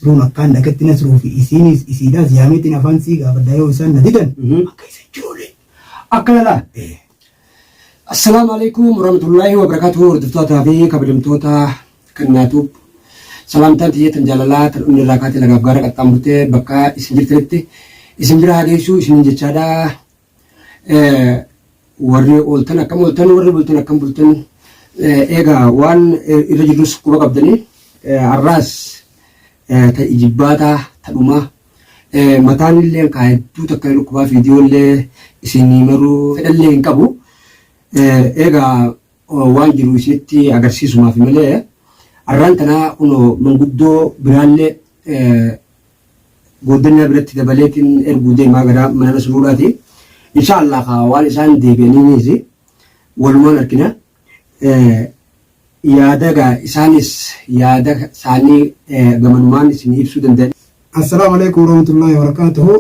Yeroon akkaan dhagetti Nasruu fi isiiniis isiidhaas yaameetiin afaan sii gaafadha yoo isaan na didan akka isa joolee. Akkana laal. Assalaamu alaikum warahmatullahi wabarakatuh hordoftoota fi kabajamtoota kan naatuub salaamtaan tiyya tan jaalalaa tan onnee irraa kaatee lagaaf gaara qaxxaamurtee bakka isin jirtanitti isin bira haa geessu isinin jechaadha. Warri ooltan akkam ooltan warri bultan akkam bultan egaa waan irra jirrus quba qabdanii har'aas ta ijibbaataa ta dhumaa mataan illee kaa hedduu takka hin dhukkubaa viidiyoo illee isinii maruu fedhallee hin qabu egaa waan jiru isinitti agarsiisumaaf malee har'aan tanaa kunoo manguddoo biraallee Gooddanni Rabbiratti dabaleetiin erguu deemaa gara mana Nasruudhaati. Inshaa Allah kaa waan isaan deebi'aniinis walumaan argina. Yaada gaa isaanis yaada isaanii gamanumaan isin ibsuu danda'a. Assalaamu Aleykum Warahmatullaahi Wabarakaatuhu.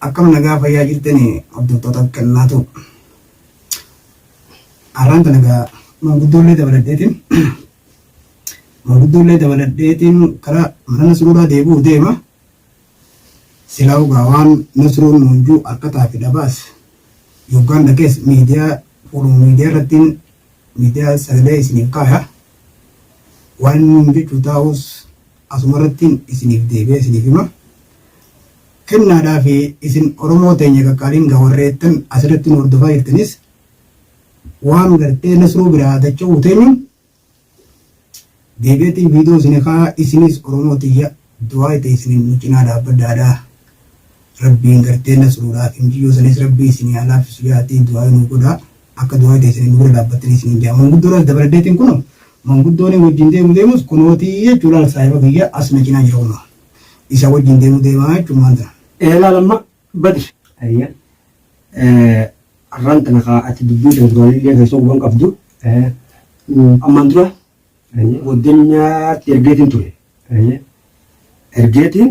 Akkam nagaa fayyaa jirtanii hordoftootaaf kennaatu. Har'aan tana egaa maanguddoollee dabaladheetiin maanguddoollee dabaladheetiin karaa mana Nasruuraa deebi'uu deema. Silaa egaa waan Nasruun nuunjuu harkataa fi dhabaas yoggaan dhagees miidiyaa fuuluma miidiyaa irrattiin miidiyaa sagalee isiniif kaaya. Waan inni jechuu taa'us Asumarrattiin isiniif deebi'ee isiniif hima. Kennaadhaafi isin Oromoo teenya qaqqaaliin gaa warri eettan asirratti nu hordofaa jirtanis waan gartee Nasruu biraa dacha'uu teenyuun deebi'eetiin viidiyoo isini kaa'a isinis Oromoo tiyya du'aayi teessiniin nu cinaa dhaabbadhaadha. Rabbiin gartee Nasruudhaaf injiyyoo sanis Rabbii isinii haa laaffisu ja'aatii du'aayi nuu godhaa. Akka duraa teessanii nu bira dhaabbattanii isiniin jaa manguddoodhas dabaladheetiin kunoo manguddoonin wajjin deemu deemus kunootii jechuu laal saahiba kiyya as na cinaa jira kunoo isa wajjin deemu deemaa jechuun maan tana. Ee laal amma badi. Ayya arraan tana kaa ati dubbii tana duraan illee keessoo guban qabdu ammaan dura goddanyaatti ergeetiin ture. Ergeetiin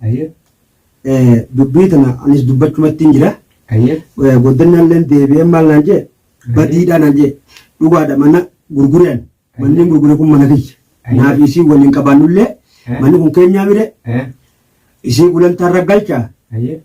Hayyee. Dubbii tana anis dubbachumattiin jira. Hayyee. Goddannaalleen deebi'ee maal naan jee badiidhaa naan jee dhugaadha mana gurgure ani. Manni gurgure kun mana kiyya. Naa fi isii waliin qabaannullee manni kun keenyaa mire isii gulantaarra galchaa. Hayyee.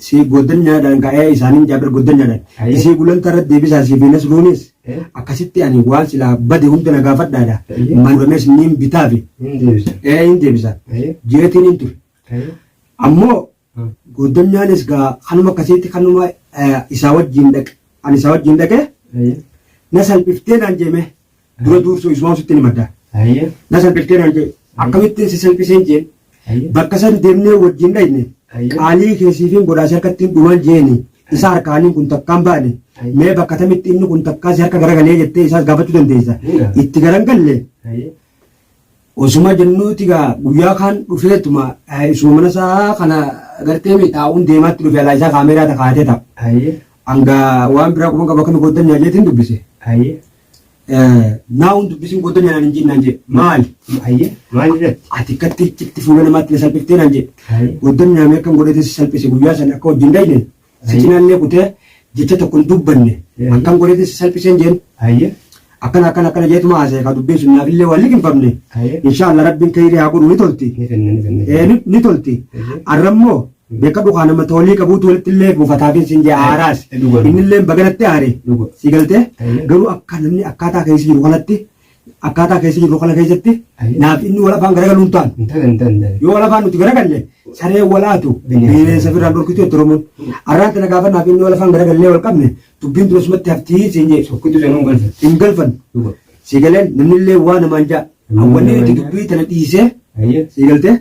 Isii goddanyaadhaan ka'ee isaaniin jaabir goddanyaadhaan. Aye. Isii gulantaa irratti deebisaa isii fi nasruunis Eh. akkasitti ani waan silaa bade hunda na gaafadhaadha. Aye. Manuuramees niin bitaafi. Hin deebisa. Ee hin deebisa. Aye. Jeetiin hin ture. Aye. Ammoo Hmm. goddanyaanis gaa kanuma akkasitti kanuma eh, isaa wajjin dhaqe. Ani isaa wajjin dhaqe Aye. na salphiftee naan jeme. Dura duursuu isumaan sittin himadha. Hayyee. Na salphistee naan jee. Hayyee. Akkamittiin si salphiseen jeen. Hayyee. Bakka san deemnee wajjin dhayne. Hayyee. Qaalii kee siifin godhaa si harkattiin dhumaan jeeni. Isa harkaaniin kun takkaan baane. Hayyee. Mee bakka tamitti inni kun takkaa si harka garagalee jettee isaas gaafachuu dandeessa. Hunda. Itti garan galle. Hayyee. Osuma jennuuti gaa guyyaa kaan dhufeetuma eh, isuma mana isaa kana gartee miidhaa'uun deemaatti dhufe alaa isaa kaameeraa ta kaatee ta'a. Hayyee. Hanga waan biraa quban qaba kan godhan nyaajeetiin dubbise. Hayyee. Naa hun dubbisuun koo dana naan hin jiin naan jedhe. Maali? Ayyee maal irratti? Ati akkatti iccitti fuula namaatti na salphiftee naan jedhe. Ayyee. Goddonni naamee akkan godhee si salphise guyyaa sana akka wajjin dhayne si Ayyee. cinaallee kutee jecha tokko hin dubbanne Ayyee. akkan godhee si salphiseen jeen Ayyee. akkana akkana akkana jeetuma haasa'e kaa dubbiin sun naafillee waan liqinfamne Ayyee. inshaallah rabbiin kayrii haa godhu ni tolti Ni fenna ni fenna. Eh, ni- ni tolti Ayyee. arrammoo Beeka dhukaa nama toolii qabuutu walitti illee buufataatiin siin jee aaraas. Inni illee baga natti aare. Sii galtee garuu akka namni akkaataa keessa jiru kanatti akkaataa keessa jiru kana keessatti naaf inni wal afaan garagalu hin taanu. Yoo wal afaan nuti garagalle saree walaatu bineensa firraan dhorkitu jetti Oromoon. Arraan tana gaafa naaf inni wal afaan garagallee wal qabne dubbiin tun asumatti haftii siin jee. Sokkitu sanuun galfan. Hin galfan. Sii galeen namni illee waa namaan jaa. Awwanni itti dubbii tana dhiisee sii galtee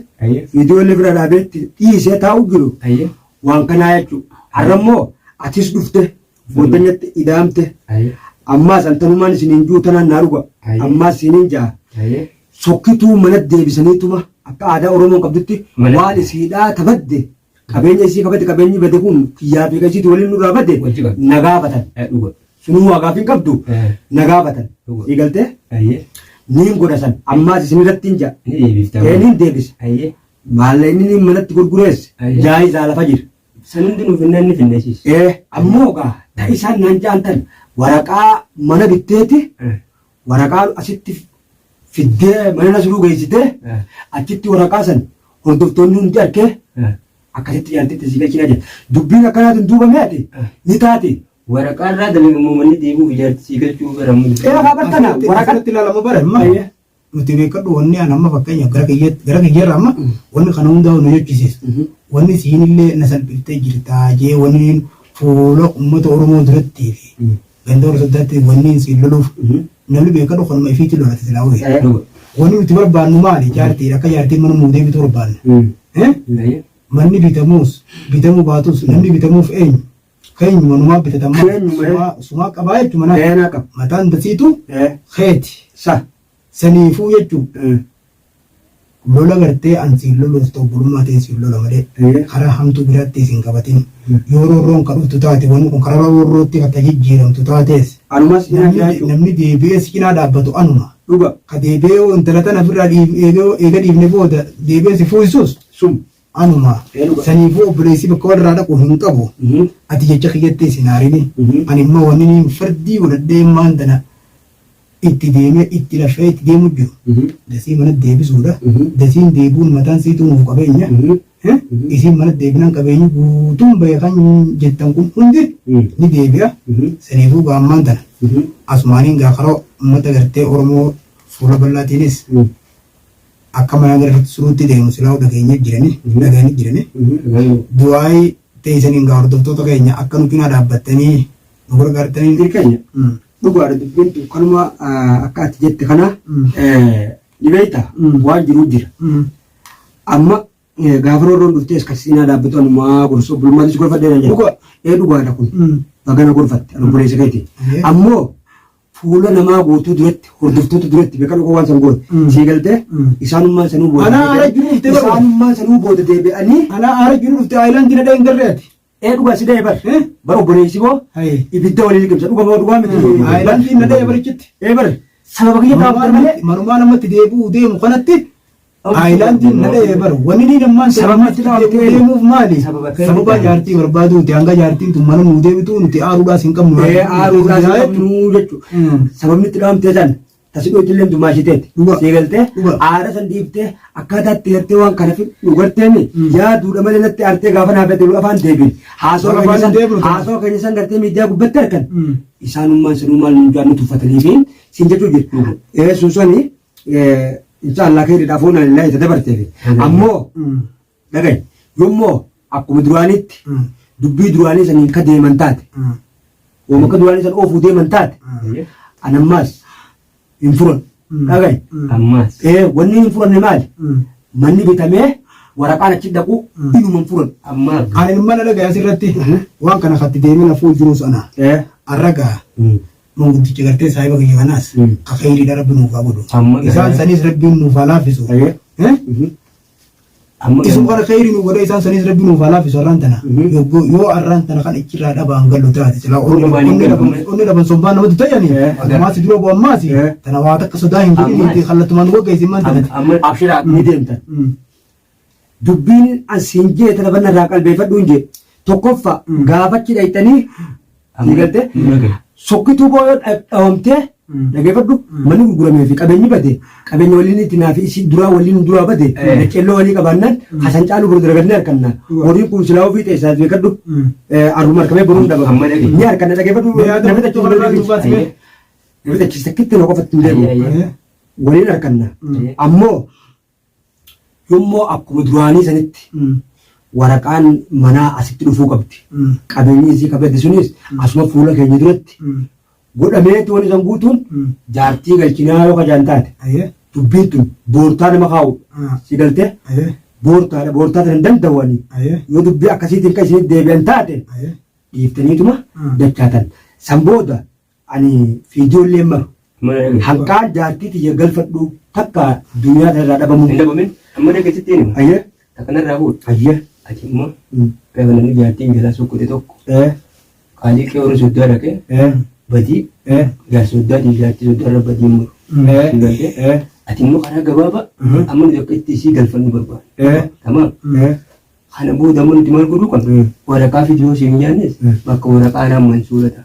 viidiyoo illee bira dhaabee itti dhiisee taa'u jiru waan kanaa jechuu har'a immoo atis dhufte booddanyatti idaamte ammaas an tanumaan isiniin juu tanaan naa dhuga ammaas isiniin ja'a sokkituu mana deebisaniituma akka aadaa oromoon qabdutti waan isiidhaa tabadde Qabeenya isii qabate qabeenyi bade kun kiyyaa fi qashiitu waliin nurraa bade Wajji bade. na gaafatan. Eh, dhuga Sunuu waa gaafii hin qabdu Eh. na gaafatan. Dhuga. Sii galtee ayyee niin godha san ammaas isin irratti hin ja'a. ni deebifta Ee niin deebisa. ayyee Maalla inni niin manatti gurgureesse Ayyee. jaayizaa lafa jira. san hundi nuuf hin nanni finneesiis Ee ammoo gaa ta isaan naan jaantan waraqaa mana bitteeti Waraqaa asitti fiddee mana nasruu geessitee achitti waraqaa san hordoftoonni hundi arkee akkasitti jaartitti si galchinaa jedhe. Dubbiin akkanaatiin duubamee ati ni taate. Waraqaa irraa dalagamoo manni deebi'uuf ijaarti si galchuu gara mudda. Ee haa bartana waraqaa Waraqatti ilaalama bara amma Ayya. nuti beekadhu wanni an amma fakkeenyaaf gara kiyyaatti gara kiyyarra amma wanni kana hundaa nu jechisiisa. Wanni isiinillee na salphiftee jirtaa jee wanni fuula uummata Oromoo durattii fi Ganda warra soddaatti wanni isiin loluuf namni beekadhu kanuma ifiitti lolate silaa horii. Wanni nuti barbaannu maali jaartii akka jaartiin mana nuu deebitu barbaanna. Eh? Manni bitamuus bitamuu baatus namni bitamuuf eenyu? Keenyuma numaa bitatan malee Keenyuma, eh. sumaa- sumaa qabaa jechuun manaa. Keenaa qaba. Mataan dasiitu Eh. keeti. Sa. Saniifuu jechuun lola gartee an siin loluuf ta u obbulummaa tiin siin lola malee karaa hamtuu biraatti is hin qabatin. Yoo roorroon ka dhuftu taate wanni kun karara roorrootti ka ta jijjiiramtu taatees Anuma si cinaa namni jiraachuu. namni deebi'ee si cinaa dhaabbatu anuma. Dhuga. Ka deebi'ee yoo intala tana ifirraa dhiif eega eega dhiifne booda deebi'ee si fuusisus Sum. Anuma. Saniifuu obboleessi bakka walirraa dhaqu hin qabu. Ati jecha kiyyatti isin haarini. Ani immoo wanniniin fardii godhadhee maan tana itti deemee itti lafee itti deemu jiru dasii mana deebisuudha. Dasiin deebi'uun mataan siituu nuuf qabeenya. Isiin mana deebinaan qabeenyi guutuun bahe kan jettan kun hundi ni deebi'a. Saniifuu gaa ammaan tana asumaaniin gaa karoo uummata gartee Oromoo fuula bal'aatiinis Akka mana gara suruutti deemu silaahuu dhageenyee jirani hin dhagayani jirani du'aayi teeysaniin gaa hordoftoota keenya akka nu cinaa dhaabbattanii nu gargaartaniin. Dir keenya dhugaadha dubbiin tun kanuma akka ati jette kana ni beeyta waan jiruu jira amma gaafa roorroon dhuftee iska siinaa dhaabbatu anumaa gorsa obbolummaatti si gorfadhee nan jedha ee dhugaadha kun baga na gorfatte ani obboleessa keeti ammoo Fuula namaa guutuu duratti, hordoftoota duratti beekan oga waan san goote. Mm. Sii galtee? Mm. Isaanummaan sanuu booda. Anaa deebi'anii- aara jiru dhuftee barbaada. Isaanummaan sanuu booda deebi'anii. Anaa aara jiru dhufte aayilaandii nadhee hin garree ati. Ee dhugaa si da'e bar. Eh? Bar obboleessi koo Hayee. ibidda waliin liqimsa. Dhugaa moo dhugaa miti. Aayilaandii nadhee barichitti. Ee bar. Sababa kiyya taa'u malee. Manumaa namatti deebi'uu deemu kanatti Aayilaandiin na dha'ee bara wanni ni dammaan Sababni itti sababatti dhaabdee deebi'ee deemuuf maali? Sababa akka Sababa hin jaartii barbaaduuti hanga jaartiin tun mana nuu deebituu nuti aaruudhaas hin qabnu. Ee aaruudhaas hin qabnu jechuudha. Mm. Sababni itti dhaamtee san tasidhoo itillee dumaa ishiteeti. Dhuga. Sii galtee Dhuga. aara san dhiiftee akkaataa itti gartee waan kana fi dhugarteemi Mm. yaaduudha malee natti artee gaafa naaf jedhu afaan deebiin. Haasoo Gaafa keenya san hin deebinu ta'u. haasoo keenya san gartee miidiyaa gubbatti arkan. Mm. Isaanummaan sanuu maal nu jaannu tuffatanii fi siin jechuu jirtu. Ee sun sani insha Allah keeridha afuuna lillahi itti dabarteefi ammoo dhagahi yommoo akkuma duraanitti dubbii duraanii saniin ka deeman taate wama akka duraanii san oofuu deeman taate anammaas hin furan dhagahi ammaas ee wanni hin furanne maali manni bitamee waraqaan achi dhaqu inuma hin furan ammaa Ani mana dhagaa asirratti waan kana katti deemina fuul jiruus ana. ee Arragaa Manguddicha gartee saahiba kiyya kanaas ka kheyriidha rabbi nuuf haa godhu. Amma Isaan garaan- saniis rabbiin nuuf haa laaffisu. Ayyee. Eh? Mhm. Amma Isu garuu- kana kheyri nu godhe isaan saniis rabbi nuuf haa laaffisu arraan tana. Mhm. Yogguu yoo arraan tana kan ichirraa dhabaan gallu taate silaa Onni onni waan hin onni dhaban galabne. onni dhaban sombaan namatti tayyani. Eh, agar- Ammaasi dura bu ammaasi. Eh. Tana waa takka sodaa hin godhin Ammaasi. itti kallattumaan wagga isin man tanati. Amma Abshiraa ni deemtan. Mm. Dubbiin an siin jee tana banna irraa qalbeefadhuun jee tokkoffa gaafachi dhayxanii ni galte sokkituu boo yoo dhawamtee dhageefadhu manni gurguramee fi qabeenyi bade qabeenya waliin itti naa fi isii duraa waliin duraa bade daccelloo walii qabaannaan hasan caaluu bor dalagadnee harkanna horiin kun silaa ofii ta'e isaas beekadhu arruma harkamee boruun dhaba ni harkanna dhageefadhu namni dachuu kana irraa duubaa ta'e namni dachista kitti na qofatti hin deemu waliin harkanna ammoo Immoo akkuma duraanii sanitti waraqaan manaa asitti dhufuu qabdi. Qabeenyi isii ka bade sunis asuma fuula keenya duratti godhameeti wanni san guutuun jaartii galchinaa yoo ka jaan taate Aye. dubbiin tun boortaa nama kaa'udha. Ah. Si galte Aye. boortaadha boortaa tana hin danda'u ani. Aye. Yoo dubbii akkasiitiin ka isinitti deebi'an taate Aye. dhiiftaniituma Ah. dachaatan. San booda Ani fi ijoolleen maru. Haqqaa jaartii tiyya galfadhu takka duniyaa tanarraa dhabamuu. Hin dhabamin amma dhaqe sitti hin hima. Ayyee. Takka narraa fuudhu. Ayyee. Ati immoo gaafa namni jaartiin jalaa sokkute tokko qaalii qe'ee warra soddaa dhaqee badii jaarsa soddaatii jaartii soddaarra badii hin muru. Ati immoo karaa gabaabaa amma nuti akka itti isii galfannu barbaada. Tamaam. Kana booda amma nuti maal godhuu qabna? Waraqaa fidiyoo siin nyaannes bakka waraqaa naan mansuura ta'a.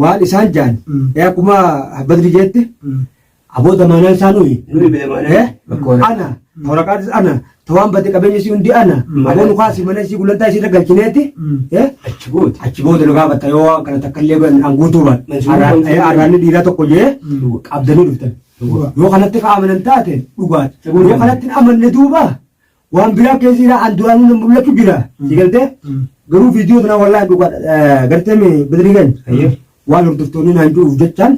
waan isaan jaan ee akkuma badri jeette aboo damaanaan isaa nuyi Nuyi beemaanee. Eh? ana waraqaatis ana tawaan badde qabeenya isii hundi ana aboo nu kaasii mana isii gulantaa isii irra galchineeti Eh? Achi booda. achi booda nu gaafata yoo waan kana takka illee godhan an guutuu baadhe Mansuurii Arraan- mansuurii. eh, arraanni dhiiraa tokko jee qabdanii dhuftan yoo kanatti ka amanan taate dhugaadha yoo kanatti hin amanne duuba Waan biraa keessi irraa an duraanuu na mul'atu jira. Si galtee? Garuu viidiyoo sana wallaahi dhugaa gartee mi badrigan. Waan hordoftoonni naan jiruuf jechaan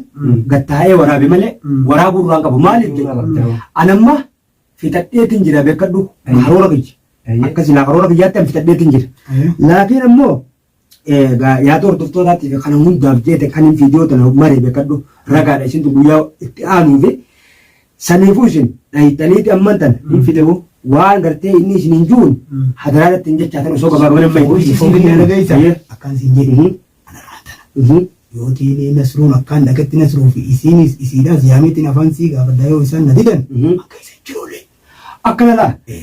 gattaa'ee waraabe malee waraabuu irraa hin qabu. Maaliif jedha? An amma fixadheetiin jira beekadhu karoora kiyya. Akkasi laa karoora kiyyaatti an fixadheetiin jira. Laakiin ammoo Egaa yaada hordoftootaatti fi kana hundaaf jeete kanin viidiyoo tana mare bekadhu ragaadha isintu guyyaa itti aanuu fi saniifuu isin dhayxaniiti amman tan hin fidewu waan gartee inni isin hin juun hadaraa irratti hin jechaa tan osoo gabaabaman amma Obbo Ishii siif hin dhageessa Ayyee. akkaan siin jedhe Mhm. ana raatana Mhm. yoo teelee nasruun akkaan dhagetti nasruu fi isiinis isiidhaas yaameetiin afaan sii gaafadha yoo isaan na didan Mhm. akka isa jirullee Akkana laa Eh.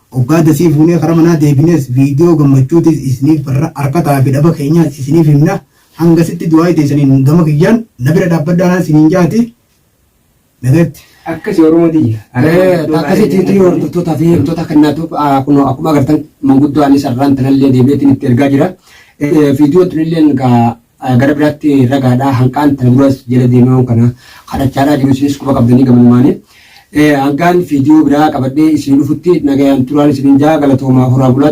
Oggaa dasii fuunee kara manaa deebinees viidiyoo gammachuutiis isiniif barra arkataa fi dhaba keenyaas isiniif himna hangasitti du'aayi teessaniin gama kiyyaan na bira dhaabbadhaa naan siniin jaati nagatti. Akkasi oromoo tiyya. Akkasitti hordoftoota fi himtoota kennaatu kunoo akkuma agartan manguddoo anis har'aan tanallee deebi'eetiin itti ergaa jira. Viidiyoon tunillee Gara biraatti ragaadha hanqaan tana duras jala deemee waan kana kadhachaadhaa jiru isinis quba qabdanii gamanumaanii. Hanqaan viidiyoo biraa qabadhee isin dhufutti nagayaan turaan isinin jaa galatoomaa horaa bulaa.